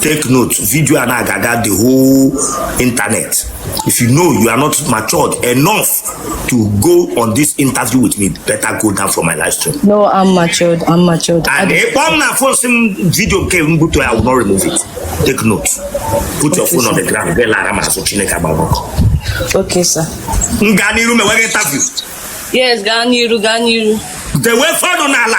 take note video a na-aga the whole internet if you know you are not matured enough to go on this interview with me better go down from my live stream no i'm matured i'm matured and ị kpọọ m na phone sị m video ka m butuo i will not remove it take note put your phone on the ground bee lara m azụ chineke agba gị ọkụ okay sir m gaa n'iru mewe gị interview yes gaa n'iru gaa n'iru dewe fọnụ n'ala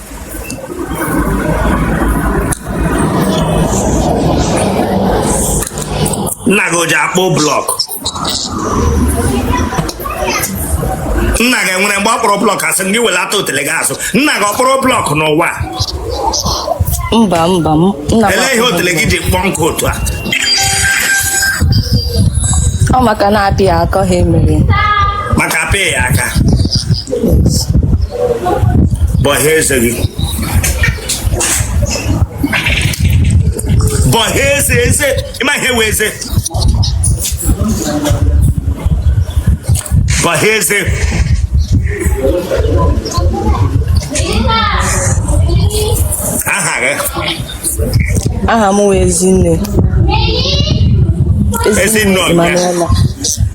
nna gị o ji akpụ blọk nna gị enwere mgbe ọ kpụrụ blọk asị m gị welata otele gị azụ nna gị ọ kpụrụ blọk n'ụwa mba mba m nna m elee ihe otele gị ji kpọọ nkụ otu a ọ maka na-apị ya aka ha emere maka apị ya aka bọhịa eze gị bọhịa eze eze ị ma ihe wụ eze bọhịa eze aha gị aha m wụ Ezinne Ezinne ọbịa. Emanuela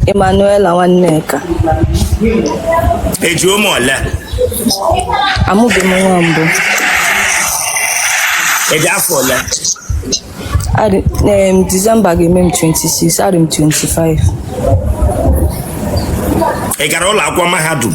Emanuela Nwanneka i ji ụmụ ole amụbeghị m nwa mbụ i ji afọ ole Adị- em, Disemba ga-eme m 26 adị m 25 ị gara ụlọ akwụkwọ mahadum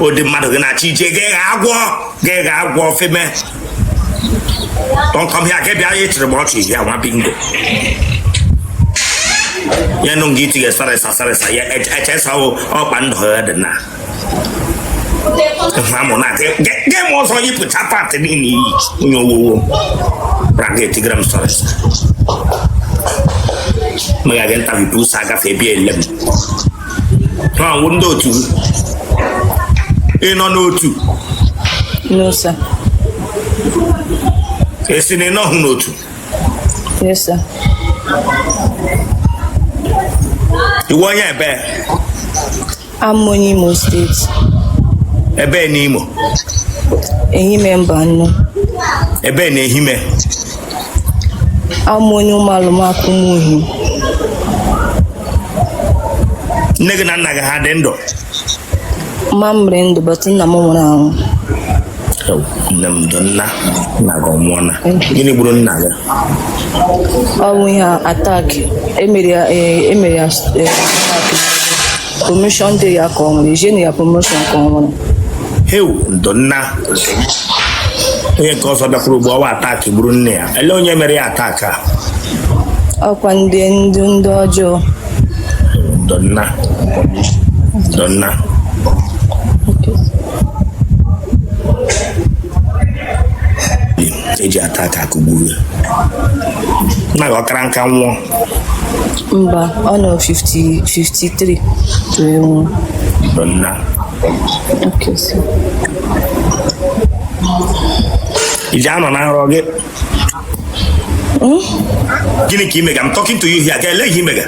ụdị mmadụ gị na-achọ ije gị gha agwọ gị gha agwọ feme tọnkọm ya gị bịa ya echere m ọchị ya nwa bingo ya nụ nga itinye sorry sir sorry sir ya echesawo ọkpa ndụ ya dị na amụ na gị m ọzọ yipụcha pantị niile i yi onye owowo ra gị etigara m sorry sir mega gị ntabi pusa agafe ebi ele m ha wụ ndị otu gị ị nọ n'otu No, sir. ị sị na ị nọghị n'otu Yes, sir. ị wụ onye ebee awụ m onye Imo State. ebee n'Imo Ehime Mbano. ebee n'Ehime Awụ m onye Umualumaku Umuihim. nne gị na nna gị ha dị ndụ Mma m dị ndụ but nna m nwụrụ anwụ. nne m ndo nna nna gị ọ nwụọla gịnị gburu nna gị Ọ bụ ihe attack emere ya eh, emere ya eh, attack. promotion dị ya ka ọ nwere ejenu ya promotion ka ọ nwere heu ndo nna onye nke ọzọ bịakwuru ugbo ọwa attack gburu nne ya ele onye mere ya attack a ọ kwa ndị ndị ndị ọjọọ ndo nna ndo nna e ji attack akụgburu ya nna gị ọ kara nka nwụọ mba ọ nọ 50 53 wee nwụọ ndo nna Okay, so. i ji anọ na nrọ gị gịnị ka ị mega I'm talking to you here ga ele ihe ị mega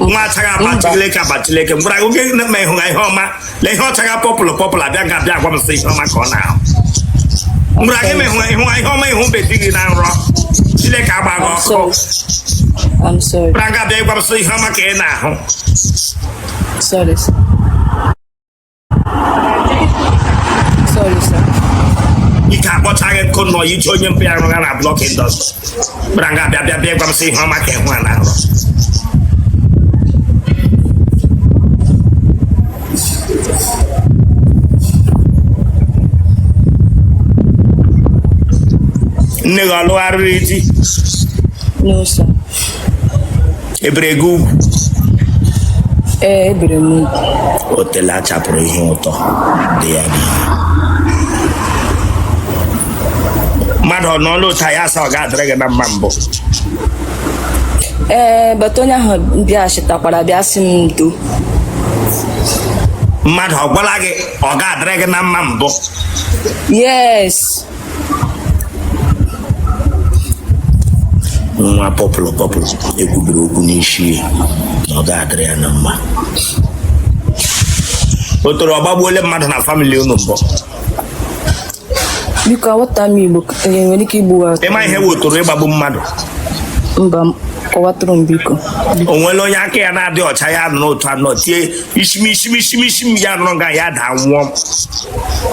nwa achaghị agba chileke agba chileke m gwara gị oge na-eme ịhụ ha ihe ọma na ihe ọchaghị pọpụlụ pọpụlụ abịa ga abịa agwa m sị ihe ọma ka ọ na-ahụ m gwara gị ma ịhụ ịhụ ihe ọma ị hụbedịghị na nrọ chileke agba gị ọkụ I'm sorry. m gwara gị abịa ịgwa m sị ihe ọma ka ị na-ahụ Sorry. sir. ike akpọchaa gị nkụ nọ iji onye mpa ya rụgha na block industry kpara nga bịa bịa bịa gwa m sị ihe ọma ka ị hụga na nrọ nne gị ọ lụgharịrị di No, sir. e bere gị ugwu ee e bere m ugwu otele a chapụrụ ihe ụtọ dị ya n'ihu mmadụ ọ n'ọnụ ụta ya asa ọ ga-adịrị gị na mma mbụ ee bata onye ahụ bịa chịtakwara bịa sị m ndo mmadụ ọ gwala gị ọ ga-adịrị gị na mma mbụ yes nwa pọpụlụ pọpụlụ e kwubiri okwu n'isi ya na ọ ga-adịrị ya na mma otoro ọ gbagbuole mmadụ na family unu mbụ biko aghọta m Igbo eh, nwere ike igbu ha ị ma ihe wụ otoro ịgbagbu mmadụ mba kọwatụrụ m biko o nwere onye aka ya na-adị ọcha ya nọ n'otu anọ tie ishi m ishi m ishi m ishi m ya nọrọ nga ya daa nwụọ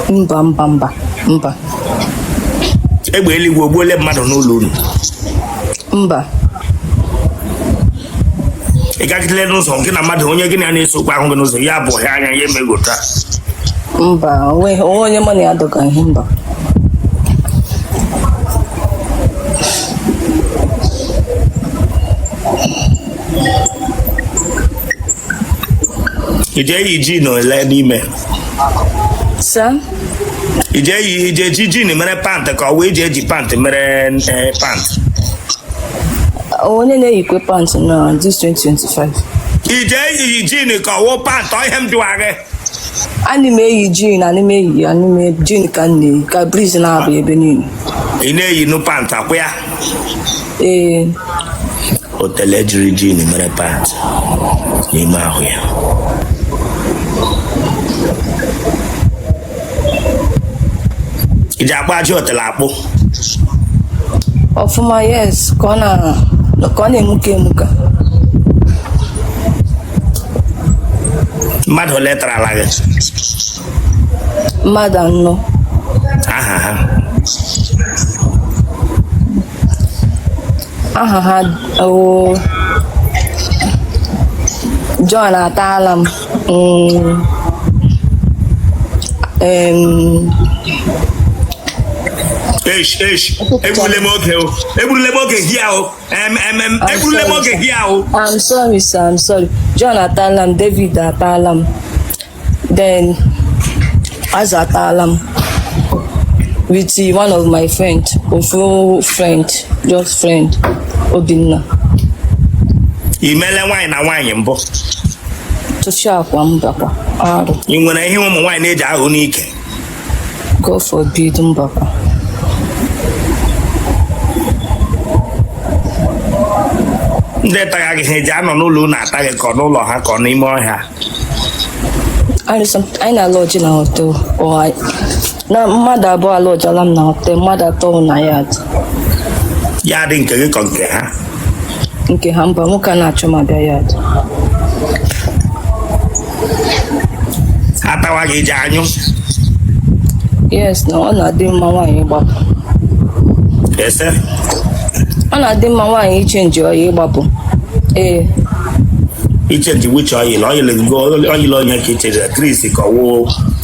mba mba mba mba egbe eluigwe ogbuole mmadụ n'ụlọ unu mba ị gagidele n'ụzọ gị na mmadụ onye gị na ya na-ese okwu ahụ gị n'ụzọ ya bụ ọhịa anya ya emegota mba o nwe o nwe onye mụ na ya dọga ihe mba i ji eyi jean ole n'ime Sir? i ji eyi i ji eji jean mere pant ka ọ wụ i ji eji pant mere eh, pant Onye na-eyikwe pant na this 2025? i ji eyi jean ka ọ wụ pant ọ ihe m jụwa gị Ana m eyi jean, ana m eyi ya, ana m eyi jean ka m na-eyi ka breeze na-aba ebe niile. ị na-eyi nu pant akwụ ya Ee, otele jiri jean mere pant n'ime ahụ ya i ji akpụ ajị otele akpụ ọfụma yes ka ọ na- ka ọ na-emuke emuke mmadụ ole tarala gị mmadụ anọ aha ha aha ha o John ataala m Mm. Um, Eish, eish, egbule m oge o, egbule m oge here o, em, em, em, egbule m oge here o. I'm sorry, sir. I'm sorry. John ataala m, David ataala m, then Aza ataala m with uh, one of my friend, ofu friend, just friend, Obinna. I mele nwaanyị na nwaanyị mbụ. tụfịakwa mbakwa arụ ị nwere ihe ụmụ nwaanyị na-eji ahụ n'ike God forbid mbakwa ndị taga gị ha eji anọ n'ụlọ unu ata gị ka ọ n'ụlọ ha ka ọ n'ime ọhịa sorry sir anyị na-alọjị na hotel ọ na mmadụ abụọ alọjịala m na hotel mmadụ atọ wụ na yard yard nke gị ka ọ nke ha nke ha mba nwoke a na-achọ m abịa yard atawa gị i ji anyụ yes na ọ na-adị mma nwaanyị ịgbapụ eh sir ọ na-adị mma nwaanyị ichenji oil ịgbapụ ee ichenji which oil oil gị oil onye ka i chenji Chris ka ọ wụ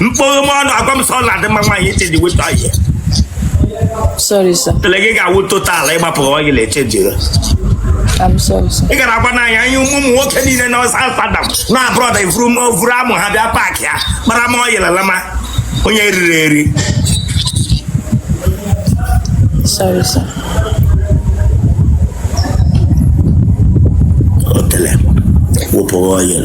mkpụrụ m ọnụ agwa m so ọ na-adị mma nwaanyị ichenji which oil Sorry, sir. otele gị ga-awụ total ịgbapụrụ oil na-echenjiri I'm sorry, sir. ị gara agwa n'anya anyị ụmụ ụmụ nwoke niile na ọsa sadam na abroad vuru m vuru amụ ha bịa paakị ya kpara m oil lalama onye riri eri Sorry, sir. otele wụpụrụ oil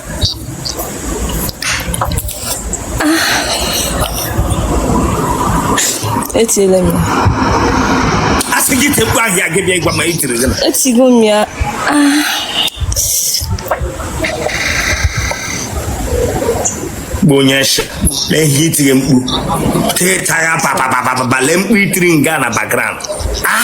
etiela m ya a sị gị tekpu ahịa gị bịa ịgwa ma i tiri gị na etigo m ya bụ onye nsha lee ihe i tiri mkpu teta ya papapapapa lee mkpu i tiri nga na background ah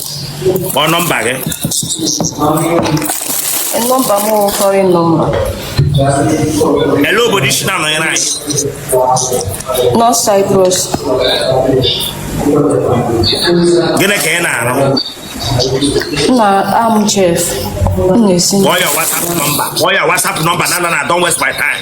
kpọọ nọmba gị nọmba m bụ foreign nọmba elee obodo i si na-anọnyere anyị North Cyprus gịnị ka ị na-arụ nna I'm chef m na-esi kpọọ ya WhatsApp nọmba kpọọ ya WhatsApp nọmba no no no don't waste my time